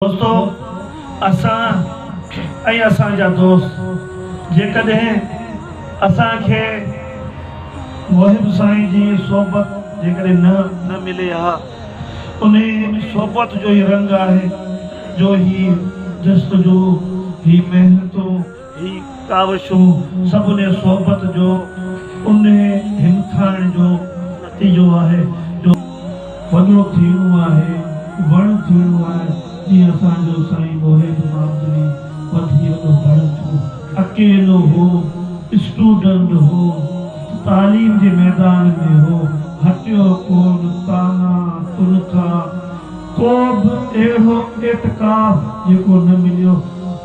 دوستو اسان ۽ اسان جا دوست جيڪڏهن اسان کي محب سائين جي صحبت جيڪڏهن نه نه ملي ها انهي صحبت جو ئي رنگ آهي جو هي جستجو هي محنتون هي ڪاوشو سڀني صحبت جو انهي همٿائڻ جو نتيجو آهي جو وڏو ٿيڻو آهي وڻ ٿيڻو آهي جيئن اسان جو سائين محب مامدڙي وڌي وڏو وڻ ٿيو اڪيلو هو اسٽوڊنڊ هو تعليم جي ميدان ۾ هو هٽيو ڪون طعنا تنخا ڪوبه اهڙو اعتڪاف جيڪو نه مليو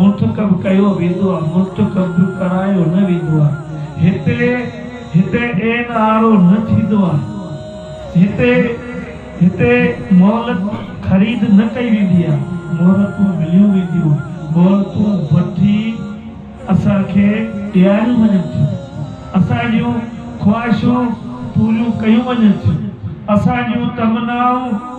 منتخب ڪيو ويندو آهي منتخب ڪرايو نه ويندو آهي هتي هتي اين آر او نه ٿيندو آهي هتي هتي مهلت خريد نه ڪئي ويندي آهي مهلتون مليون وينديون مهلتون وٺي اسان کي ڏياريون وڃن ٿيون اسان جون خواهشون پوريون ڪيون وڃن ٿيون اسان جون تمنائون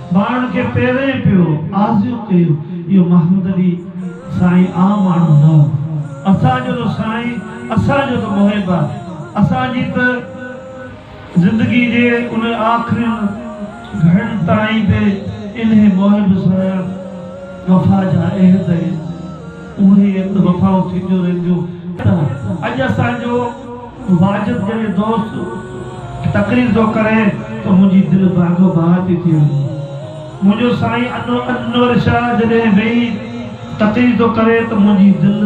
ٻانهن کي پيرين پيو آزيون ڪيون اهو محمد علي سائين عام ماڻهو نه هو اسان جو ته سائين اسان جو ته محب آهي اسان جي ته زندگي جي ان آخرين گهڙن تائين به انهي محب سان وفا جا عهد ۽ اهي وفائون ٿينديون رهنديون ته اڄ اسان جو واجد جيئن دوست تقرير ٿو ڪري ته منهنجي دل باغ و بهار ٿي ٿي وڃي. منهنجو سائين انور شاهه جڏهن ويهي تقرير ٿو ڪري ته منهنجي دل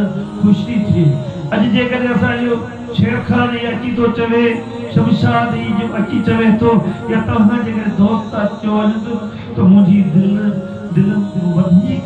خوش ٿي ٿئي. اڄ جيڪڏهن اسان اهو شير خان هي اچي ٿو چوي، شمشاد هي جو اچي چوي ٿو يا توهان جيڪڏهن دوست اچو وڃن ته منهنجي دل دل وڌيڪ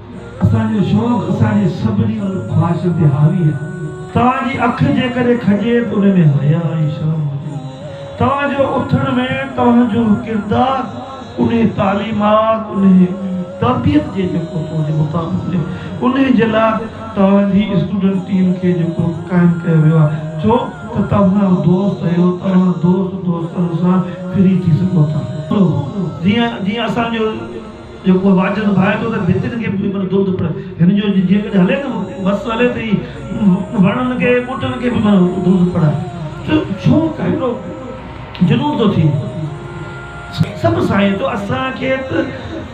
اسان جو شوق اسان جي سڀني خواهشن تي حاوي آهي. توهان جي اک جيڪڏهن کڄي ته ان ۾ حياء ۽ شرم هجي. توهان جو اٿڻ ويهڻ توهان جو ڪردار انهي تعليمات انهي تربيت جي جيڪو تو جي مطابق هجي. انهي جي لاء توهان جي اسٽوڊنٽ ٽيم کي جيڪو قائم ڪيو ويو آهي. ڇو ته توهان دوست اهيو توهان دوست دوستن سان ڦري ٿي سگهو ٿا. جيئن جيئن اسان جو. جو ڪو واڄن ڀائي ٿو ته ڀتين کي به معنيٰ درد پڙهي. هن جو جيڪڏهن هلي ته وس هلي ته هي وڻن کي، ٻوٽن کي به معنيٰ درد پڙهائي. چيو ڇو هيڏو جنون ٿو ٿئي؟ سڀ سائين چيو اسان کي ته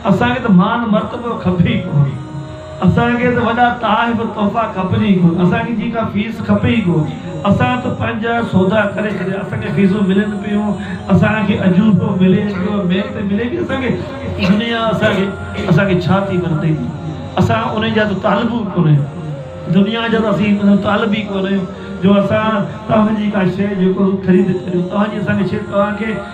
اسان کي ته مان مرتبو کپي ئي ڪونه. اسان کي ته وڏا تحائف تحفا کپجن ئي ڪونه اسان کي جي ڪا فيس کپي ئي ڪونه اسان ته پنهنجا سودا ڪري ڇڏيا اسان کي فيسون ملن پيون اسان کي اجورو ملي پيو محنت ملي پيئي اسان کي دنيا اسان کي اسان کي ڇا ٿي مدد ڏئي اسان انهي جا ته طالب ئي ڪونه آهيون دنيا جا ته اسين مطلب طالب ئي ڪونه آهيون جو اسان توهان جي ڪا شيء جيڪو خريد ڪريون توهان جي اسان کي شيء توهان کي